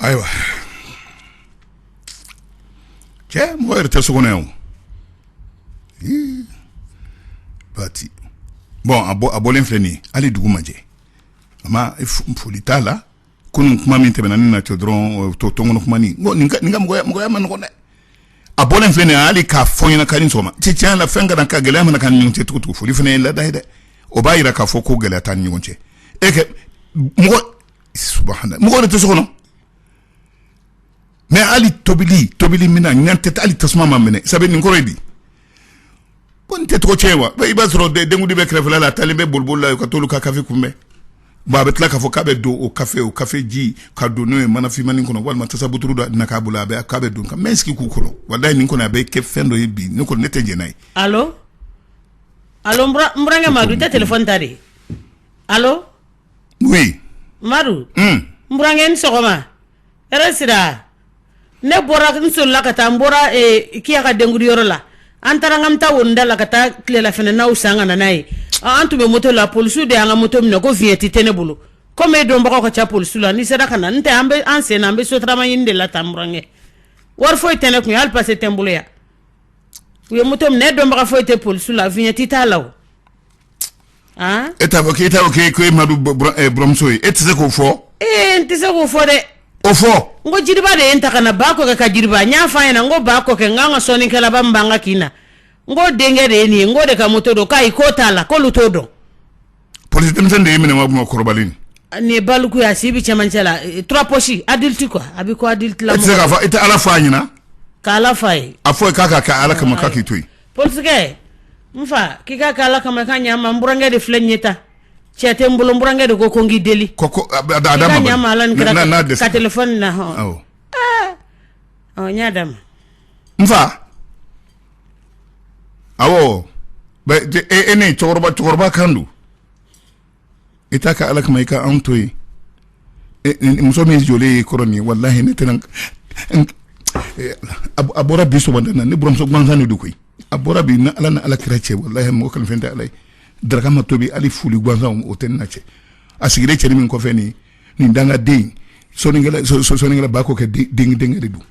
Ayiwa cɛ mɔgɔ yɛrɛ tɛ so kɔnɔ yan o Ii, pati bon a bɔ a bɔlen filɛ nin ye hali dugu ma jɛ a ma f- foli t'a la kunun kuma min tɛmɛna ne n'a cɛ dɔrɔn to tɔnon kuma nin mɔgɔya man nɔgɔ dɛ a bɔlen filɛ hali k'a fɔ ɲɛna k'i ni sɔgɔma tiɲɛ la fɛn ka ka gɛlɛya mana ka ɲɔgɔn cɛ tugu foli fana ye laada ye dɛ o b'a jira k'a fɔ ko gɛlɛya t'an ni ɲɔgɔn cɛ e kɛ mɔgɔ mɔgɔ de tɛ so kɔnɔ mais hali tobili tobili min na ɲ tɛ hali tasuma ma mɛnɛ sabu nin kɔrɔ ye di ko nin tɛ tɔgɔcɛn ye wa i b'a sɔrɔ denkundi bɛ kɛrɛfɛla la a taalen bɛ bolibolila la yen u ka t'olu ka kafe kunbɛn bon a bɛ tila k'a fɔ k'a bɛ don o kafe o kafe ji ka don n'o ye manafinmannin kɔnɔ walima tasabuturu dɔ na k'a bolo a bɛ k'a bɛ don ka mɛ sigi k'u kɔnɔ walayi nin kɔni a bɛ kɛ fɛn dɔ ye bi ne kɔni ne tɛ jɛn n'a ye. allo allo n burankɛ Madu i tɛ telefɔni ta dɛ allo. oui. Madu. Un. N burankɛ i ni sɔgɔma hɛrɛ sira. ne bɔra n soli la ka taa n bɔra eh, Kiya ka denkundiyɔrɔ la an taara ka taa wonida la ka taa tilelafana naw san ka na n'a ye an tun bɛ moto la polisiw de y'an ka moto minɛ ko viɲɛti tɛ ne bolo komi e dɔnbagaw ka ca polisiw la n'i sera ka na n tɛ an bɛ an sen na an bɛ sotarama ɲini de la tan burankɛ wari foyi tɛ ne kun hali pase tɛ n bolo yan u ye moto minɛ e dɔnbaga foyi tɛ polisiw la viɲɛti t'a la o e t'a fɔ k'e t'a fɔ k'e e ma buramuso ye e tɛ se k'o fɔ ee n tɛ se k'o fɔ dɛ o fɔ n ko Jiriba de ye n ta ka na Bako ka Jiriba n y'a fɔ a ɲɛna n ko Bako kɛ n k'an ka sɔnnikɛlaba min b'an ka kin na n k'o denkɛ de ye nin ye n k'o de ka moto don k'ayi k'o t'a la k'olu t'o dɔn polisi denmisɛnnin de ye minɛ ma kuma kɔrɔbalen nin nin ye baliku ye a si bɛ cɛmancɛ la eh, trois poches adulte quoi a bɛ ko adulte la e tɛ se k'a fɔ i tɛ ala fɔ a ɲɛna k'ala fɔ a ye a fɔ k'a ka kɛ ala kama k'a k'i to yen parce que n fa k'i ka kɛ ala kama ka ɲa n burankɛ de filɛ nin ye ta cɛ tɛ n bolo burankɛ de ko ko n k'i deli n y'a d'a ma n fa awɔ ne cɛkɔrɔba kan don i t'a kɛ ala kama i ka anw to yen muso min jɔlen y'i kɔrɔ nin walahi ne tɛna a bɔra bi sɔgɔmada na ne buramuso gansan de don koyi a bɔra bi na ala ni ala kira cɛ walahi mɔgɔ ka fɛn tɛ ala ye daraka ma tobi hali foli gansan o tɛ ne n'a cɛ a sigilen cɛnin min kɔfɛ nin nin dangaden sɔnnikɛla Bako kɛ denkɛ de don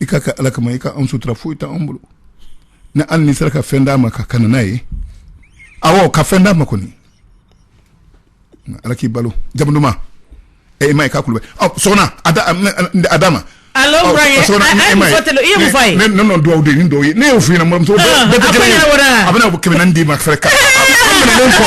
i k'a kɛ ala kama i ka an sutura foyi tɛ an bolo ni an ni sera ka fɛn d'a ma ka kana n'a ye awɔ ka fɛn d'a ma kɔni ala k'i balo jamuduman ɛ i ma ye k'a kulubali ɔ sɔgɔna a da a d'a ma Allo oh, Brian, oh, sɔgɔna, a- a ye mun fɔ tele- i ye mun fɔ a ye? ne ne nɔ dugawu de ni dɔw ye ne y'o f'i ɲɛna buranmuso Ah, bɛɛ tɛ a kɛnɛ ye. fɔra o la. a bɛna kɛmɛ naani d'i ma fɛrɛ ka a minɛlen kɔ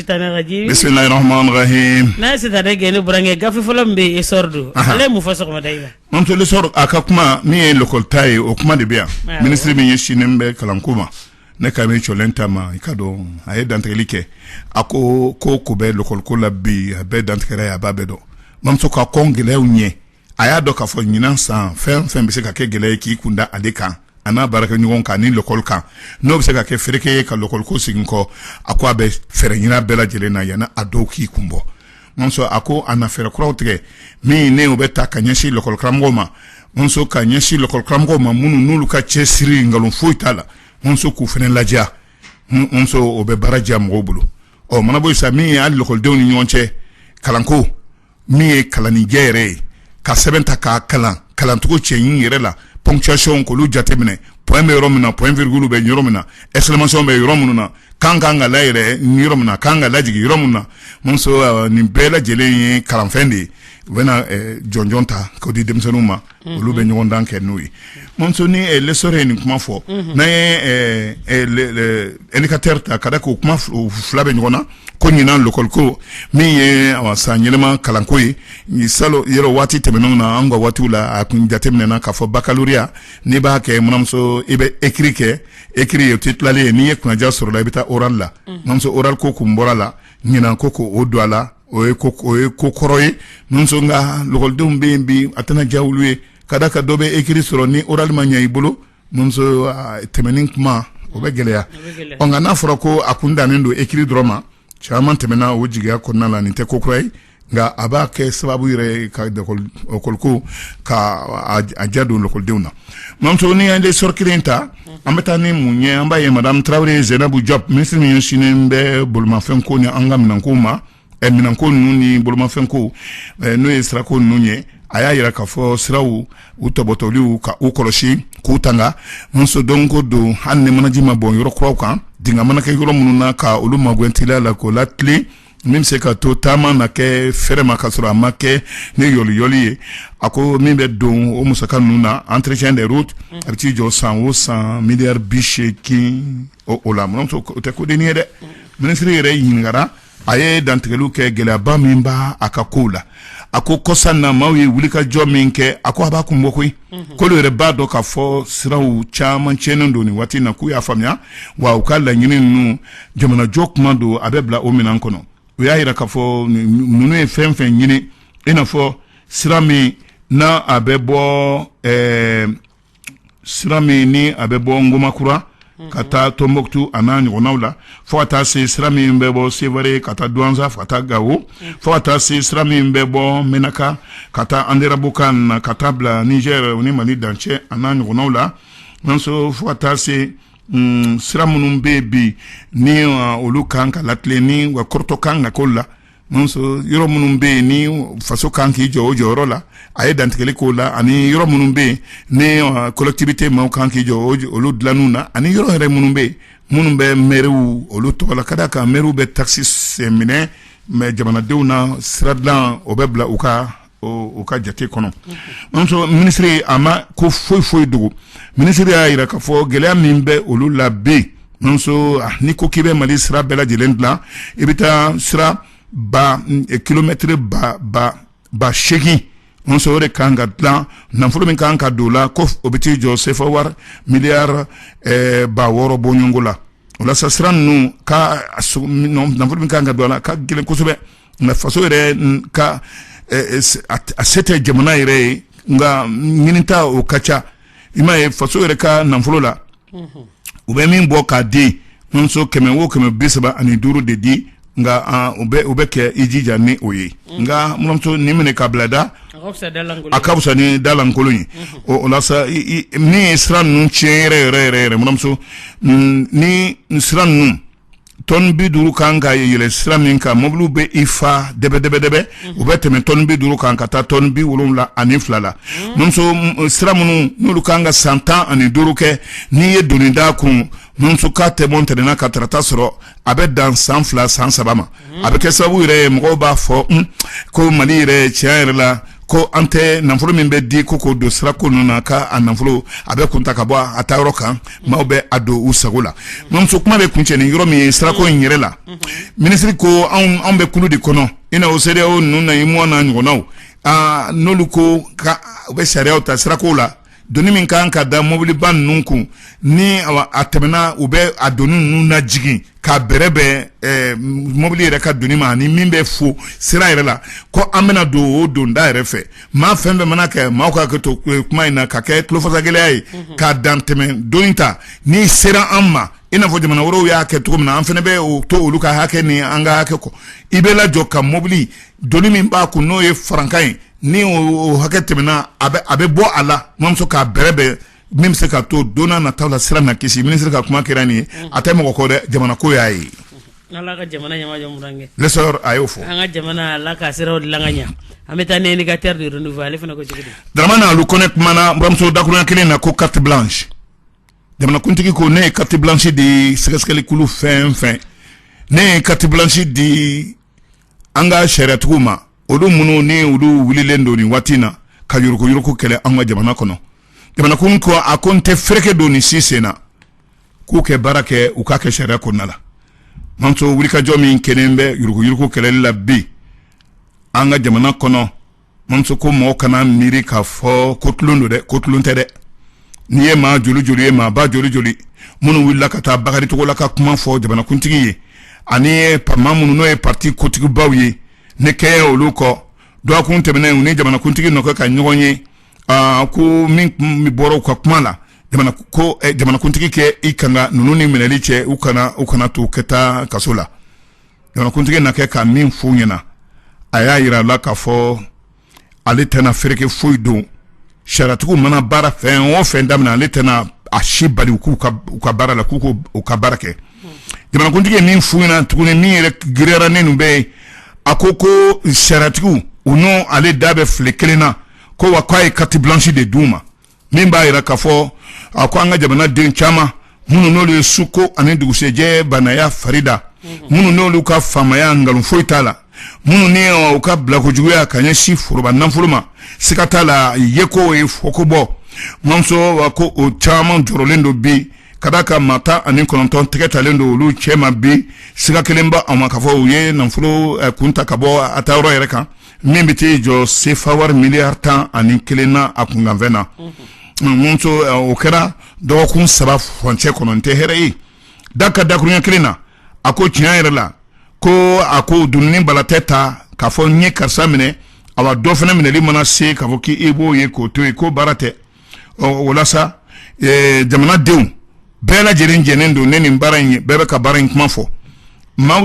Tanagaji bisimilahi rahmani rahim n'an ye sitanɛ gɛn ni burankɛ gafe fɔlɔ min bɛ yen Essor don Aha. ale ye mun fɔ sɔgɔmada in na mamuso L'Essor a ka kuma min ye lekɔlita ye o kuma de bɛ yan Awɔ. minisiri min ɲɛsinnen bɛ kalanko ma ne ka min cɔlen ta ma i k'a dɔn a ye dantigɛli kɛ a ko ko o ko bɛ lekɔliko la bi a bɛɛ dantigɛra a ye a b'a bɛɛ dɔn mamuso ka kɔn gɛlɛyaw ɲɛ a y'a dɔn k'a fɔ ɲinan san fɛn o fɛn bɛ se ka kɛ gɛlɛya ye k'i kun da ale kan a n'a baarakɛɲɔgɔn kan ni lɔkɔli kan n'o bɛ se ka kɛ fereke ye ka lɔkɔliko segin kɔ a ko a bɛ fɛɛrɛ ɲini a bɛɛ lajɛlen na yanni a dɔw k'i kun bɔ mamuso a ko a na fɛɛrɛ kuraw tigɛ min ni o bɛ taa ka ɲɛsin lɔkɔlikaramɔgɔw ma mamuso ka ɲɛsin lɔkɔlikaramɔgɔw ma minnu n'olu ka cɛsiri nkalon foyi t'a la mamuso k'u fana lajɛ mamuso o bɛ baara diya mɔgɔw bolo o mana bɔ yen sa min ye lɔkɔlidenw ni ɲɔgɔn cɛ kalanko min ye kalannijɛ yɛrɛ ye ka sɛbɛn ta k'a kalan kalancogo cɛɲi yɛrɛ la ponctuation k'olu jateminɛ point bɛ yɔrɔ min na point virgule bɛ yɔrɔ min na exclamation bɛ yɔrɔ minnu na kan ka kan ka layɛlɛn yɔrɔ min na kan ka lajigin yɔrɔ min na mamuso nin bɛɛ lajɛlen ye kalanfɛn de ye u bɛna jɔnjɔn ta k'o di denmisɛnninw ma olu bɛ ɲɔgɔndan kɛ n'o ye mamuso ni eh, L'Essor ye nin kuma fɔ mhm. n'an ye eh, eh, Indicateur ta ka da k'o kuma fila bɛ ɲɔgɔn na ko ɲinan lɔkɔliko min ye sanyɛlɛma kalanko ye salon yɔrɔ waati tɛmɛnenw na an ka waatiw la a kun jateminɛna k'a fɔ bakaloreya n'i b'a kɛ buranmuso i bɛ ekiri kɛ ekiri ye o tɛ tilalen ye n'i ye kunnandiya sɔrɔ o la i bɛ taa oral la mhm. mamuso oral ko kun bɔra a la ɲinan ko k'o don a la o ye o ye ko kɔrɔ ye nka lakɔlidenw bɛ yen bi a tɛna diya olu ye ka d'a kan dɔ bɛ ekiri sɔrɔ ni oral ma ɲɛ i bolo tɛmɛni kuma o bɛ gɛlɛya ɔ nka n'a fɔra ko a kun dannen don ekiri dɔrɔn ma caman tɛmɛna o jigiya kɔnɔna la nin tɛ ko kura ye nka a b'a kɛ sababu yɛrɛ ka lakɔliko ka a diya don lakɔlidenw na mamuso ni an ye L'Essor kelen ta an bɛ taa ni mun ye an b'a ye madame tarawele zɛnabu jɔp minisiri min ɲɛsinnen bɛ bolomafɛnko ni an ka minɛnko ma eh, minɛnko ninnu ni bolomafɛnko eh, n'o ye sirako ninnu ye a y'a yira k'a fɔ siraw u topotoliw ka u kɔlɔsi k'u tanga mamuso don go don hali ni manaji ma bɔn yɔrɔ kuraw kan dinga mana kɛ yɔrɔ minnu na ka olu magɛn teliya la k'o latilen min bɛ se ka to taama na kɛ fɛrɛ ma ka sɔrɔ a ma kɛ ni yɔliyɔli ye a ko min bɛ don o musaka ninnu na entretien des routes a bɛ t'i jɔ san o san miliyari bi seegin o o la mamuso o tɛ ko dennin ye dɛ minisiri yɛrɛ ɲininkara a ye dantigɛli kɛ gɛlɛyaba min b'a ka ko la a ko kɔsa na maaw ye wulikajɔ min kɛ a ko a b'a kun bɔ koyi k'olu yɛrɛ b'a dɔn k'a fɔ siraw caman tiɲɛnen don nin waati na k'u y'a faamuya wa u ka laɲini ninnu jamanajɔ kuma don a bɛ bila o minɛn kɔnɔ u y'a jira k'a fɔ ninnu ye fɛn fɛn ɲini i n'a fɔ sira min n'a bɛ bɔ sira min ni a bɛ bɔ ngomakura ka taa tonbukutu a n'a ɲɔgɔnw la fo ka taa se sira min bɛ bɔ sevare ka taa duwanza ka taa gawo fo ka taa se sira min bɛ bɔ menaka ka taa anderabukan na ka taa bila nizɛri o ni mali dancɛ a n'a ɲɔgɔnw la nso fo ka taa se sira minnu bɛ bi ni olu kan ka latilen ni wa kɔrɔtɔ kan ka k'olu la munso yɔrɔ minnu bɛ yen ni faso kan k'i jɔ o jɔyɔrɔ la a ye dantigɛli k'o la ani yɔrɔ minnu bɛ yen ni kɔlɛkitiwite maaw kan k'i jɔ olu dilanw na ani yɔrɔ yɛrɛ minnu bɛ yen minnu bɛ mɛriw olu tɔgɔ la ka da a kan mɛriw bɛ takisi se minɛ mɛ jamanadenw na sira dilan o bɛ bila u ka u ka jate kɔnɔ minisiri a ma ko foyi foyi dogo minisiri y'a jira k'a fɔ gɛlɛya min bɛ olu la bi n'i ko k'i bɛ mali sira bɛɛ lajɛlen dilan i bɛ taa sira ba kilomɛtiri ba seegin munso o de kan ka dilan nafolo min kan ka don a la ko o bɛ t'i jɔ sefa wari miliyari ba wɔɔrɔ bɔɲɔgɔnko la walasa sira ninnu ka nafolo min kan ka don a la ka gɛlɛn kosɛbɛ nka faso yɛrɛ ka a se tɛ jamana yɛrɛ ye nka ɲinita o ka ca i m'a ye faso yɛrɛ ka nafolo la u bɛ min bɔ k'a di munso kɛmɛ o kɛmɛ bi saba ani duuru de di nka u bɛ kɛ i jija ni o ye nka munso nin minɛ k'a bila da a ka fisa ni dalankolon ye o min ye sira ninnu tiɲɛ yɛrɛ munso ni sira ninnu tɔn bi duuru kan ka yɛlɛ sira min kan mɔbiliw bɛ i fa dɛbɛdɛbɛdɛbɛ u bɛ tɛmɛ tɔn bi duuru kan ka taa tɔn bi wolowula ani fila la sira minnu n'olu kan ka san tan ani duuru kɛ n'i ye doni da a kun ka tɛmɛ o tɛna ka taarata sɔrɔ a bɛ dan san fila san saba ma a bɛ kɛ sababu yɛrɛ mɔgɔw b'a fɔ ko mali yɛrɛ tiɲɛ yɛrɛ la ko an tɛ nafolo min bɛ di ko k'o don sirako ninnu na ka a nafolo a bɛ kun ta ka bɔ a taa yɔrɔ kan maaw bɛ a don u sago la munso kuma bɛ kuncɛ ni yɔrɔ min ye sirako in yɛrɛ la minisiri ko anw bɛ kulu de kɔnɔ i n'a fɔ sedeyawo ninnu na uyemowa n'a ɲɔgɔnnaw aa n'olu ko k'u bɛ sariya ta sirako la doni min ka kan ka da mobiliba ninnu kun ni a tɛmɛna u bɛ a doni ninnu najigin k'a bɛrɛbɛn mobili yɛrɛ ka doni ma ani min bɛ fɔ sira yɛrɛ la ko an bɛna don o donda yɛrɛ fɛ maa fɛn fɛn mana kɛ maa ka kɛ to kuma in na ka kɛ tulofasagɛlɛya ye ka dantɛmɛ doni ta n'i sera an ma i n'a fɔ jamana wɛrɛw y'a kɛ cogo min na an fana bɛ o to olu ka hakɛ ni an ka hakɛ kɔ i bɛ lajɔ ka mobili doni min b'a kun n'o ye farankan ye ni o hakɛ tɛmɛna a bɛ bɔ a la mamuso k'a bɛrɛbɛn min bɛ se ka to don nataw la sira na kisi minisiri ka kuma kɛra nin ye a tɛ mɔgɔ ko dɛ jamana ko y'a ye a y'o ka jamana ɲɛ an bɛ taa ni Indicateur du Renouveau ale fana ko Daramani Alu Kone kumana buramuso dakurunɲɛ kelen na ko carte blanche jamanakuntigi ko ne ye carte blanche di sɛgɛsɛgɛlikulu fɛn fɛn ne ye carte blanche di an ka sariyatigiw ma olu minnu ni olu wililen don nin waati in na ka yuruguyurugu kɛlɛ an ka jamana kɔnɔ jamanakun ko a ko n tɛ fereke don nin si sen na k'u kɛ baara kɛ u k'a kɛ sariya kɔnɔna la mamuso wulikajɔ min kɛlen bɛ yuruguyurugu kɛlɛli la bi an ka jamana kɔnɔ mamuso ko mɔgɔ kana miiri k'a fɔ ko tulon don dɛ ko tulon tɛ dɛ n'i ye maa joli joli ye maa ba joli joli minnu wulila ka taa Bakari Togola ka kuma fɔ jamanakuntigi ye ani maa minnu n'o ye pati kotigibaw ye ne kɛɲɛ olu kɔ dɔgɔkun tɛmɛnen u ni jamanakuntigi na kɛ ka ɲɔgɔn ye ko min bɔra u ka kuma la ko jamanakuntigi kɛ i kanga ninnu ni minɛli cɛ u kana to kɛ taa kaso la Jamanakuntigi na kɛ ka min f'u ɲɛna a y'a jira u la k'a fɔ ale tɛna fereke foyi don sariyatigiw mana baara fɛn o fɛn daminɛ ale tɛna a si bali u ka baara la k'u ko u ka baara kɛ jamanakuntigi ye min f'u ɲɛna tuguni min yɛrɛ girinyara ni ninnu bɛɛ ye a ko ko sariyatigiw u n'ale da bɛ file kelen na ko wa k'a ye carte blanche de d'u ma min b'a jira k'a fɔ a ko an ka jamanaden caman minnu n'olu ye suko ani dugusɛjɛ banaya farida minnu n'olu ka faamaya nkalon foyi t'a la minnu ni u ka bilakojuguya ka ɲɛsin foroba nafolo ma siga t'a la yeko ye fɔko bɔ mamuso wa ko o caman jɔrɔlen don bi ka d'a kan maa tan ani kɔnɔntɔn tɛgɛ talen don olu cɛma bi siga kɛlen b'a ma k'a fɔ u ye nafolo kun ta ka bɔ a taa yɔrɔ yɛrɛ kan min bɛ t'i jɔ sefa wari miliyari tan ani kelen na a kunkanfɛn na mamuso o kɛra dɔgɔkun saba furancɛ kɔnɔ n tɛ hɛrɛ ye da ka dakurunɲɛ kelen na a ko tiɲɛ yɛrɛ la ko a ko dunun ni bala tɛ ta k'a fɔ n ye karisa minɛ awa dɔ fana minɛli mana se k'a fɔ k'i b'o ye k'o to yen ko baara tɛ ɔ o walasa jamanadenw bɛɛ lajɛlen jɛnnen don ni nin baara in ye bɛɛ bɛ ka baara in kuma fɔ maa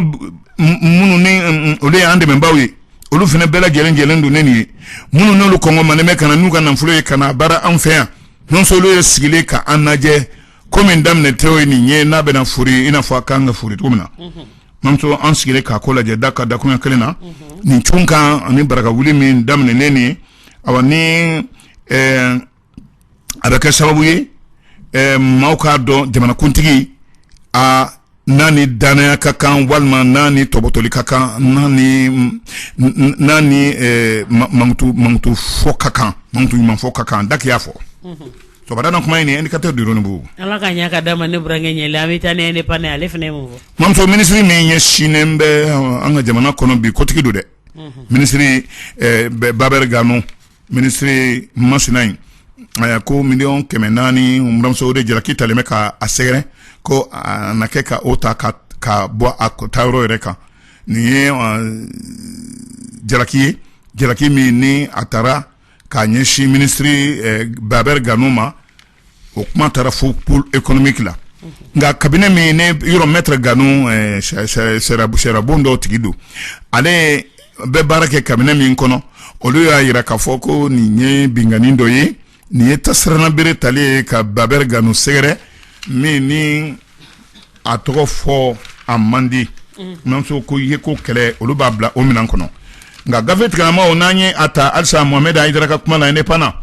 minnu ni olu y'an dɛmɛbaaw ye olu fana bɛɛ lajɛlen jɛnnen don ni nin ye minnu n'olu kɔngɔ ma ne bɛ ka na n'u ka nafolo ye ka na baara an fɛ yan nɔnso ye sigilen ka an lajɛ ko min daminɛtɔ ye nin ye n'a bɛna fori i n'a fɔ a kan ka fori cogo min na mamuso an sigilen k'a ko lajɛ da ka dakurunɲɛ kelen na nin cun kan ani baraka wuli min daminɛnen nin a ni ɛɛ a bɛ kɛ sababu ye ɛɛ maaw k'a dɔn jamanakuntigi a n'a ni danaya ka kan walima n'a ni tɔbɔtɔli ka kan n'a n'a ni mankutu fɔ ka kan mankutu ɲuman fɔ ka kan daki y'a fɔ cɛkɔrɔba kuma in Indicateur du Renouveau ala ka ɲɛ ka da ma ne burankɛ ɲɛ la an bɛ taa l'Indépendant ale fana mamuso minisiri min ɲɛsinnen bɛ an ka jamana kɔnɔ bi kotigi don dɛ minisiri Baber Gano minisiri masina in a ko miliyɔn kɛmɛ naani mamuso de jalaki talen bɛ ka a sɛgɛrɛ ko a na kɛ ka o ta ka ka bɔ a tayɔrɔ yɛrɛ kan nin ye jalaki ye jalaki min ni a taara k'a ɲɛsin minisiri Baber Gano ma o kuma taara fo pôle économique la nka kabine min ne yɔrɔ mɛtre Gano sirabon dɔw tigi don ale bɛ baara kɛ kabine min kɔnɔ olu y'a jira k'a fɔ ko nin ye binkanni dɔ ye nin ye ta siranna bere tali ye ka Baber Gano sɛgɛrɛ min ni a tɔgɔ fɔ a man di mamuso ko ye ko kɛlɛ olu b'a bila o minɛn kɔnɔ nka gafe tigilamaa n'an ye a ta halisa Mohamed Haïdara ka kuma na Indépendant na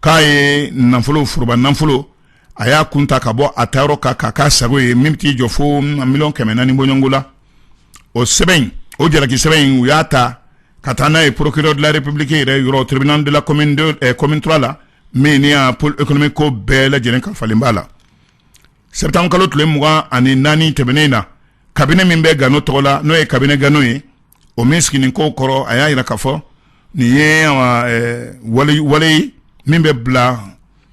k'a ye nafolo foroba nafolo a y'a kun ta ka bɔ a tayɔrɔ kan k'a k'a sago ye min t'i jɔ fo miliyɔn kɛmɛ naani bɔɲɔngo la o sɛbɛn in o jalaki sɛbɛn in u y'a ta ka taa n'a ye procureur de la république yɛrɛ yɔrɔ tribunal de la commune 2 eh, commune 3 la min ni y'a pôle économique ko bɛɛ lajɛlen kalifalen b'a la septembre kalo tile mugan ani naani tɛmɛnen na kabine min bɛ gano tɔgɔ la n'o ye kabine gano ye o min sigilen ko kɔrɔ a y'a jira k'a fɔ nin ye wale min bɛ bila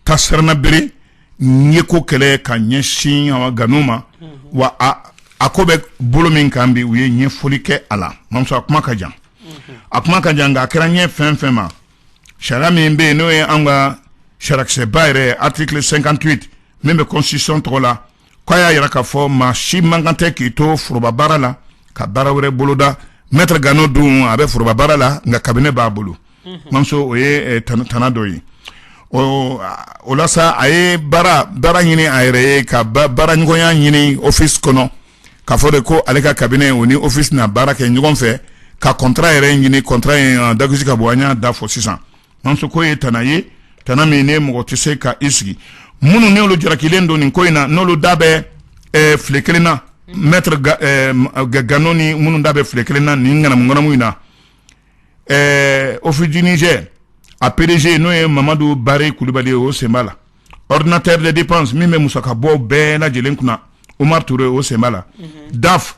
ta siranna bere ye ko kɛlɛ ka ɲɛsin gano ma wa a ko bɛ bolo min kan bi u ye ɲɛfɔli kɛ a la mamuso a kuma ka jan a kuma ka jan nka a kɛra ɲɛ fɛn fɛn ma sariya min bɛ yen n'o ye an ka sariyasunba yɛrɛ article 58 min bɛ constitution tɔgɔ la k'a y'a jira k'a fɔ maa si man kan tɛ k'i to forobabaara la ka baara wɛrɛ boloda mɛtre gano dun a bɛ forobabaara la nka kabine b'a bolo mamuso o ye tana dɔ ye o la sa a ye baara baara ɲini a yɛrɛ ye ka baara ɲɔgɔnya ɲini office kɔnɔ k'a fɔ de ko ale ka kabine o ni office na baara kɛ ɲɔgɔn fɛ ka contrat yɛrɛ ɲini contrat in dagosi ka bɔ an y'a da fɔ sisan Mamuso ko ye tana ye tana min ne mɔgɔ tɛ se ka i sigi minnu n'olu jarakilen don nin ko in na n'olu da bɛ eh, file kelen na mɛtre eh, gano ni minnu da bɛ file kelen na nin ŋanamuŋanamu in na eh, Office du Niger a PDG n'o ye Mamadu Bare Kulubali ye o sen b'a la ordinateur de dépense min bɛ musakabɔw bɛɛ lajɛlen kunna Umar Ture o sen b'a la mhm. DAF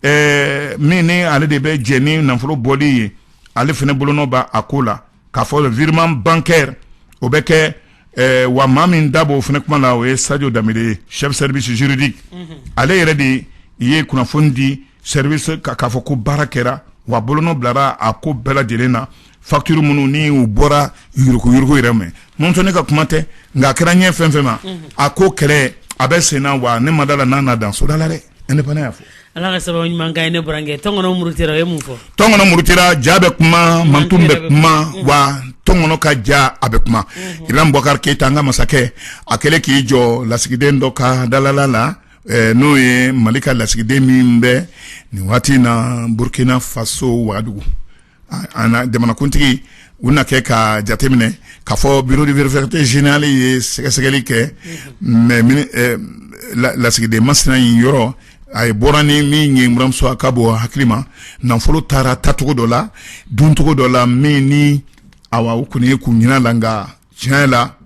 ɛɛ min ni ale de bɛ jɛ ni nafolo bɔli ye ale fana bolonɔ bɛ a ko la k'a fɔ virement bancaire o bɛ kɛ ɛɛ wa maa min da b'o fana kuma la o ye Sadio Dembele ye chef service juridique ale yɛrɛ de ye kunnafoni di service k'a fɔ ko baara kɛra wa bolonɔ bilara a ko bɛɛ lajɛlen na. Facture minnu ni u bɔra yuruguyugu yɛrɛ mɛ n ne ka kuma tɛ nka a kɛra ɲɛ fɛn fɛn ma a ko kɛlɛ a bɛ sen na wa ne ma da la n'a na dan soda la dɛ indépendant y'a fɔ ala ka sababu ɲuman ne burankɛ tɔn muru ye mun fɔ tɔn muru ja bɛ kuma man bɛ kuma wa tɔn ka ja a bɛ kuma Ibrahim Boubacar Keita an ka masakɛ a kɛlen k'i jɔ lasigiden dɔ ka dalala la n'o ye mali ka lasigiden min bɛ nin waati in na burukina faso wagadugu an jamanakuntigi u na kɛ ka jateminɛ k'a fɔ bureau de vérificateur général ye sɛgɛsɛgɛli kɛ mɛ lasigiden masina in yɔrɔ a ye bɔra ni min ye buranmuso a ka bɔ hakili ma nafolo taara tacogo dɔ la duncogo dɔ la min ni awa o kɔni ye kun ɲɛna la nka tiɲɛ la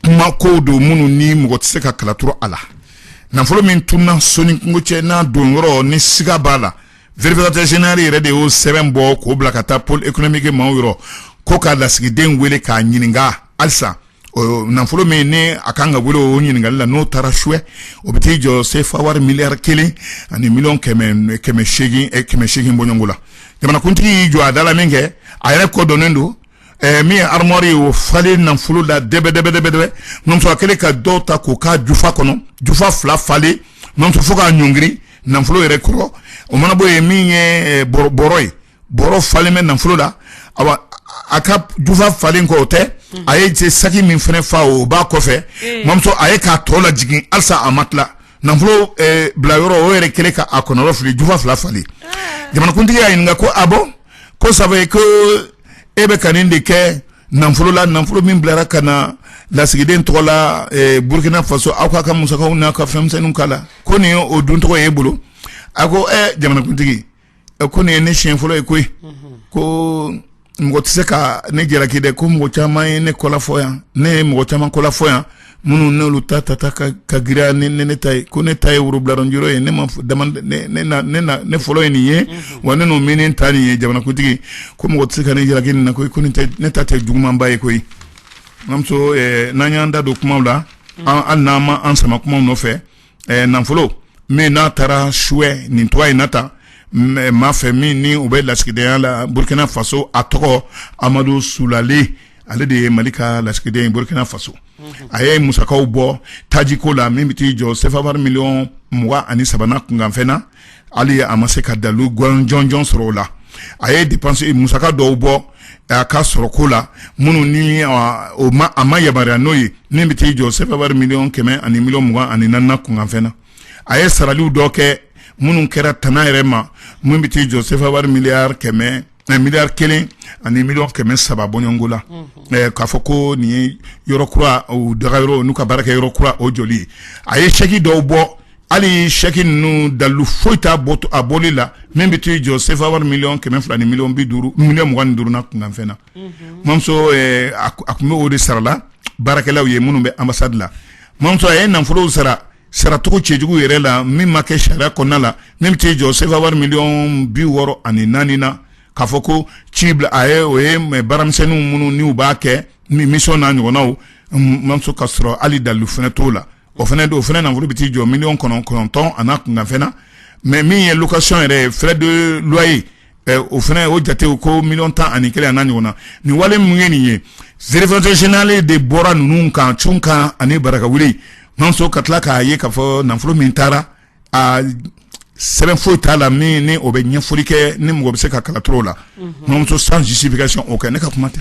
kuma kow don minnu ni mɔgɔ tɛ se ka kala turu a la nafolo min tunna so ni kungo cɛ n'a don yɔrɔ ni siga b'a la vérificateur yɛrɛ de y'o sɛbɛn bɔ k'o bila ka taa pôle économique maaw yɔrɔ ko ka lasigiden wele k'a ɲininka halisa nafolo min ni a kan ka wele o ɲininkali la n'o taara suwɛ o bɛ t'i jɔ sefa wari miliyari kelen ani miliyɔn kɛmɛ kɛmɛ seegin eh, kɛmɛ seegin bɔɲɔngo la jamanakuntigi y'i jɔ a da la min kɛ a yɛrɛ kɔ donnen don Ɛɛ min ye armoire ye o falen nafolo la dɛbɛdɛbɛdɛbɛ mamuso a kɛlen ka dɔw ta k'o k'a jufa kɔnɔ jufa fila falen mamuso fo k'a ɲɔngiri nafolo yɛrɛ kɔrɔ o mana bɔ yen min ye bɔrɔ ye bɔrɔ falen bɛ nafolo la a ka jufa falen kɔ o tɛ a ye cɛ saki min fana fa o b'a kɔfɛ mamuso a ye k'a tɔ lajigin halisa a ma tila nafolo bila yɔrɔ o yɛrɛ kɛlen k'a kɔnɔrɔfili jufa fila falen jamanakuntigi y'a ɲininka ko a bɔ ko sabu ko e bɛ ka nin de kɛ nafolo la nafolo min bilara ka na lasigiden tɔgɔ la burukina faso aw k'a ka musakaw n'a ka fɛnmisɛnw k'a la ko nin ye o duncogo ye e bolo a ko jamanakuntigi ko nin ye ne siɲɛ fɔlɔ ye koyi ko mɔgɔ tɛ se ka ne jalaki dɛ ko mɔgɔ caman ye ne kɔlafɔ yan ne ye mɔgɔ caman kɔlafɔ yan minnu n'olu ta tata ka giriya ni ne ta ye ko ne ta ye worobiladɔn yɔrɔ ye ne ma ne fɔlɔ ye nin ye wa ne n'o min ta nin ye jamanakuntigi ko mɔgɔ tɛ se ka ne jalaki nin na koyi ko ne ta tɛ jugumanba ye koyi mamuso n'an y'an da don kumaw la hali n'an ma an sama kumaw nɔfɛ ɛɛ nafolo min n'a taara suwɛ nin tɔgɔ in na tan maa fɛ min ni o bɛ lasigidenya la burukina faso a tɔgɔ amadu sulale ale de ye mali ka lasigiden ye burukina faso a ye musakaw bɔ tajiko la min bɛ t'i jɔ sefa wari miliyɔn mugan ani saba n'a kunkanfɛn na hali a ma se ka dalu jɔnjɔn sɔrɔ o la a ye dépense musaka dɔw bɔ a ka sɔrɔko la minnu ni o ma a ma yamaruya n'o ye min bɛ t'i jɔ sefa wari miliyɔn kɛmɛ ani miliyɔn mugan ani naani n'a kunkanfɛn na a ye saraliw dɔ kɛ minnu kɛra tana yɛrɛ ma min bɛ t'i jɔ sefa wari miliyari kɛmɛ Mɛ miliyari kelen ani miliyɔn kɛmɛ saba bɔko la k'a fɔ ko nin ye yɔrɔ kura daga yɔrɔ n'u ka baara kɛ yɔrɔ kura o jɔli ye a ye sɛki dɔw bɔ hali ye sɛki ninnu dalu foyi t'a bɔli la min bɛ t'i jɔ sefa wari miliyɔn kɛmɛ fila ni miliyɔn bi duuru miliyɔn mugan duuru n'a kunkanfɛn na mamuso a tun bɛ o de sarala baarakɛlaw ye minnu bɛ anbasadi la mamuso a ye nafolow sara saracogo cɛjugu yɛrɛ la min ma kɛ sariya kɔnɔna la min bɛ t'i jɔ sefa wari miliyɔn bi wɔɔrɔ ani naani na k'a fɔ ko ci bila ye o ye mɛ baaramisɛnninw minnu n'u b'a kɛ ni mission n'a ɲɔgɔnnaw mamuso k'a sɔrɔ hali dalu fana t'o la o fana nafolo bɛ t'i jɔ miliyɔn kɔnɔntɔn an'a kunkanfɛn na mɛ min ye location yɛrɛ ye frais de loyer o fana o jate ko miliyɔn tan ani kelen an'a ɲɔgɔnna nin wale mun ye nin ye vérificateur général de bɔra ninnu kan cunkan ani barakawuli mamuso ka tila k'a ye k'a fɔ nafolo min taara a sɛbɛn foyi t'a la min ni o bɛ ɲɛfɔli kɛ ni mɔgɔ bɛ se ka kalacogo la mamuso sans justification aucune ne ka kuma tɛ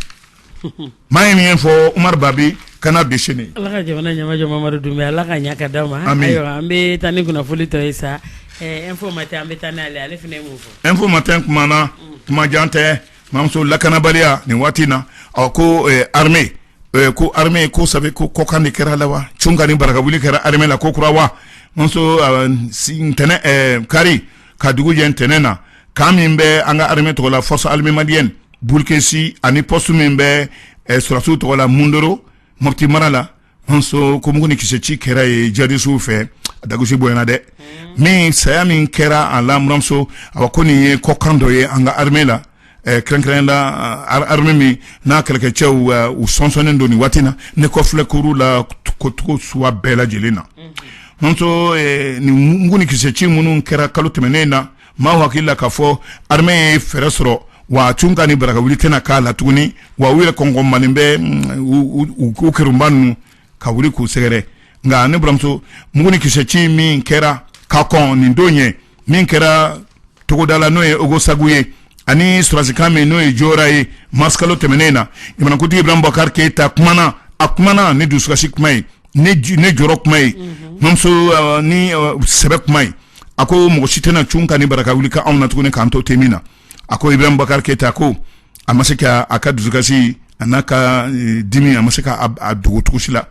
maa min y'a fɔ umaru babi canard déchaîné ala ka jamana ɲɛmajɔ mamadu dunbiya ala k'a ɲa k'a d'an ma ayiwa an bɛ taa ni kunnafoli tɔ ye sa info matin an bɛ taa n'ale ale fana ye mun fɔ info matin kuma na kuma jan tɛ mamuso lakanabaliya nin waati in na ɔ ko armée ko armée ko sabu ko kɔkan de kɛra a la wa cunkan ni barakawuli kɛra armée la ko kura wa mamuso ntɛnɛn kari ka dugu jɛ ntɛnɛn na kan min bɛ an ka armée tɔgɔ la force armée malienne Bulukesi ani pɔsi min bɛ sɔrɔdasiw tɔgɔ la mondoro mopti mara la mamuso ko mugu ni kise ci kɛra yen jihadisiw fɛ a dagasi bonyana dɛ min saya min kɛra a la mamuso a ko nin ye kɔ kan dɔ ye an ka armée la kɛrɛnkɛrɛn la armée min n'a kɛlɛkɛcɛw u sonsɔnnen don nin waati na ne kɔlɛkuru la kocogo suguya bɛɛ lajɛlen na mamuso nin mugu ni kise ci minnu kɛra kalo tɛmɛnen in na Maa hakili la k'a fɔ armée ye fɛɛrɛ sɔrɔ wa cunkan ni barakawuli tɛna k'a la tuguni wa u ye kɔnɔn man bɛ u ko kiba ninnu ka wuli k'u sɛgɛrɛ nka ne balimamuso mugu ni kise ci min kɛra ka kɔn nin don ye min kɛra togoda la n'o ye ogosagu ye ani sɔrɔdasi kan min n'o ye jura ye marisi kalo tɛmɛnen in na jamanakuntigi ibrahim bubakari keyita a kumana ni dusukasi kuma ye ne jɔrɔ kuma ye buranmuso nin sɛbɛ kuma ye a ko mɔgɔ si tɛna cunkan ni barakawuli kɛ anw na tuguni k'an to te min na a ko ibrahim bakari keyita ko a ma se k' a ka dusukasi a n'a ka dimi a ma se k'a dogo si la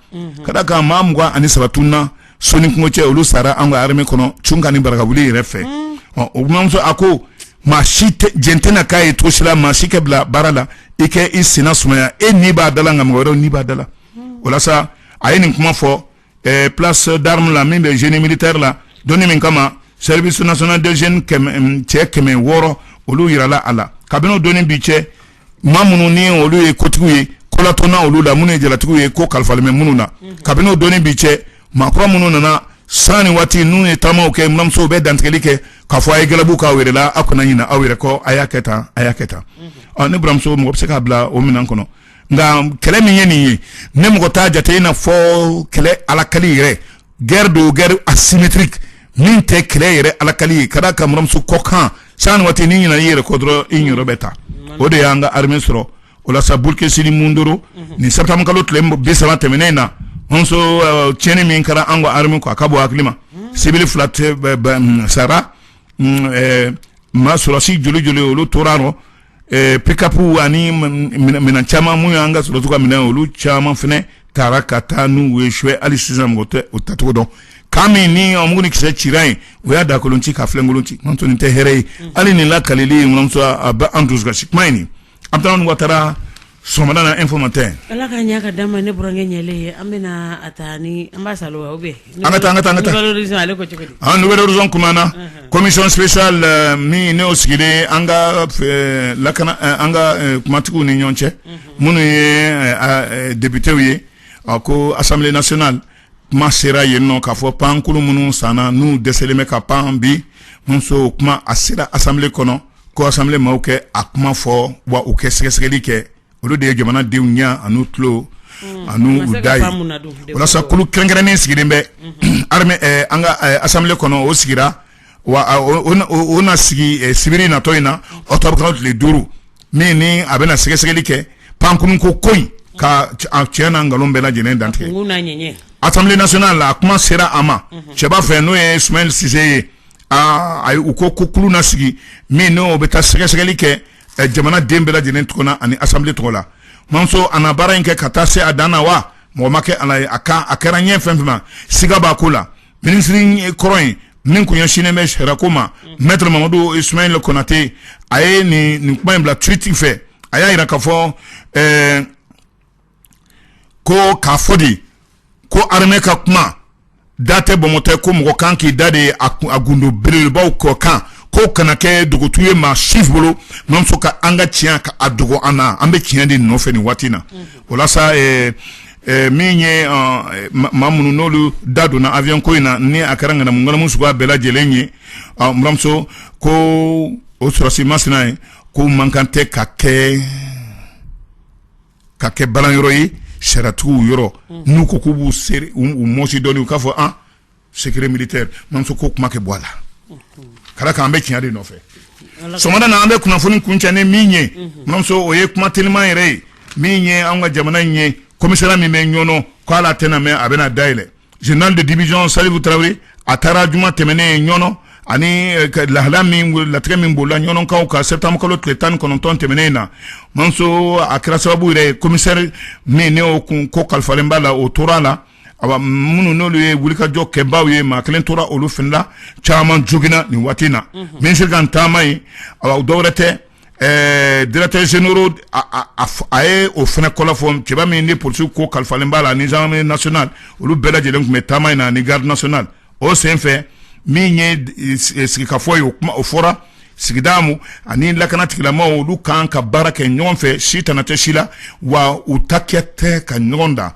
ka da k'a maa mugan ani saba tununa soni kungo cɛ olu sara an ka armée kɔnɔ cunkan ni barakawuli yɛrɛ fɛ ɔ buranmuso a ko maa si j tɛna k'a ye tosila maa si kɛ bila baara la i kɛ i sen sumaya e ni b'a da la nka mɔgɔ wɛrɛ ni b'a da la walasa a ye nin kuma fɔ eh, place d'armes la min bɛ génie militaire la don in min kama service national des jeunes kɛmɛ cɛ kɛmɛ wɔɔrɔ olu yirala a la kabini o don ni bi cɛ maa minnu ni olu ye kotigiw ye kolatɔnna olu la minnu ye jalatigiw ye ko kalifalen bɛ minnu na kabini o don ni bi cɛ maakɔrɔ minnu nana san ni waati n'u ye taamaw kɛ buranmuso u bɛ dantigɛli kɛ k'a fɔ a ye galabu k'aw yɛrɛ la aw kana ɲina aw yɛrɛ kɔ a y'a kɛ tan a y'a kɛ tan ɔ ne buranmuso mɔgɔ bɛ se k'a bila o minɛn kɔnɔ nka kɛlɛ min ye nin ye ne mɔgɔ t'a jate in na fɔ kɛlɛ alakali yɛrɛ guerre don guerre asymétrique min tɛ kɛlɛ yɛrɛ alakali ye ka d'a kan buranmuso ko kan san ni waati n'i ɲinɛna i yɛrɛ kɔ dɔrɔn i yɔrɔ bɛ ta o de y'an ka armée sɔrɔ o la sa boulkessi ni mondoro nin septembre kalo tile bi saba tɛmɛnen in na tiɲɛni min kɛra an ka armée kɔ a ka bon hakili ma civil fila sara maa sɔrɔdasi joli joli olu tora a rɔ pick-up ani minɛn caman minnu y'an ka sɔrɔdasiw ka minɛn olu caman fana tara ka taa n'u ye sɛwu hali sisan mɔgɔ tɛ o tacogo dɔn ka min ni o mugu ni kisɛ cira yen u y'a dagakolon ci k'a filenkolon ci buranmuso nin tɛ hɛrɛ ye hali nin lakalili in bɛ an dusukasi kuma in an bɛ taa watara Sɔgɔmada na informateur ala ka ɲɛ ka da ma ne burankɛ ɲɛlen ye an bɛ a taa ni an ba sa aw bɛ an ka taa an ka taa nouvel horizon kumana commission spéciale min n'o sigilen an ka lakana an ka kumatigiw ni ɲɔgɔn cɛ minnu ye depitew ye a ko assemblée nationale kuma sera yen nɔ k'a fɔ pankurun minnu sanna n'u dɛsɛlen bɛ ka pan bi buranmuso kuma a sera assemblée kɔnɔ ko assemblée maaw kɛ a kuma fɔ wa u kɛ sɛgɛsɛgɛli kɛ olu de ye jamanadenw ɲɛ ani u tulo ani u da walasa kulu kɛrɛnkɛrɛnnen sigilen bɛ an ka assemblée kɔnɔ o sigira wa u na sigi sibiri natɔ in na octobre kalo tile duuru min ni a bɛna sɛgɛsɛgɛli kɛ pankurun ko koyi k'a tiɲɛ n'a nkalon bɛɛ lajɛlen dantigɛ assemblée nationale la a kuma sera a maa cɛba fɛ n'o ye sumayila sise ye aa ayi u ko ko kulu na sigi min n'o bɛ taa sɛgɛsɛgɛli kɛ jamana den bɛɛ lajɛlen tɔgɔ na ani assemblée tɔgɔ la buranmuso a na baara in kɛ ka taa se a dan na wa mɔgɔ ma kɛ ala ye a ka a kɛra ɲɛ fɛn fɛn ma siga b'a ko la minisiri kɔrɔ in min tun ɲɛsinnen bɛ sariyako ma maître mamadou ismaël konaté a ye nin nin kuma in bila tweet fɛ a y'a jira k'a fɔ ko k'a fɔ di ko armée ka kuma da tɛ bɔnmɔtɔ ko mɔgɔ kan k'i da de a gundo belebelebaw kɔ kan ko kana kɛ dogotu ye maa si bolo mamuso ka an ka tiɲɛ ka a dogo an na an bɛ tiɲɛ de nɔfɛ nin waati na walasa min ye maa minnu n'olu da donna avion ko in na ni a kɛra ŋanamuŋanamu suguba bɛɛ lajɛlen ye mamuso ko o sɔrɔsi masina ye ko mankan tɛ ka kɛ ka kɛ balan yɔrɔ ye siratigɛ yɔrɔ n'u ko k'u b'u mɔsi dɔɔni u k'a fɔ an secret militaire mamuso ko kuma kɛ bɔ a la ka d'a kan an bɛ tiɲɛ de nɔfɛ sɔgɔmada na an bɛ kunnafoni kuncɛ ni min ye mamuso o ye kuma teliman yɛrɛ ye min ye an ka jamana in ye commissariat min bɛ Ɲɔnɔ ko ale tɛna mɛɛn a bɛna dayɛlɛ Général de division Salifu Tarawele a taara juma tɛmɛnen Ɲɔnɔ ani lahala min latigɛ min b'o la Ɲɔnɔkaw ka septembre kalo tile tan ni kɔnɔntɔn tɛmɛnen in na mamuso a kɛra sababu yɛrɛ ye commissaire min n'o kunko kalifalen b'a la o tora a la awa minnu n'olu ye wulikajɔ kɛbaaw ye maa kelen tora olu fana la caman joginna nin waati in na minisiri ka taama ye awa dɔ wɛrɛ tɛ Directeur général a ye o fana kɔ fɔ cɛba min ni polisiw ko kalifalen b'a la ani gendarmerie nationale olu bɛɛ lajɛlen tun bɛ taama in na ani garde nationale o senfɛ min ye sigikafɔ ye o kuma o fɔra sigidamaaw ani lakana tigilamaaw olu kan ka baara kɛ ɲɔgɔn fɛ si tana tɛ si la wa u ta kɛ tɛ ka ɲɔgɔn da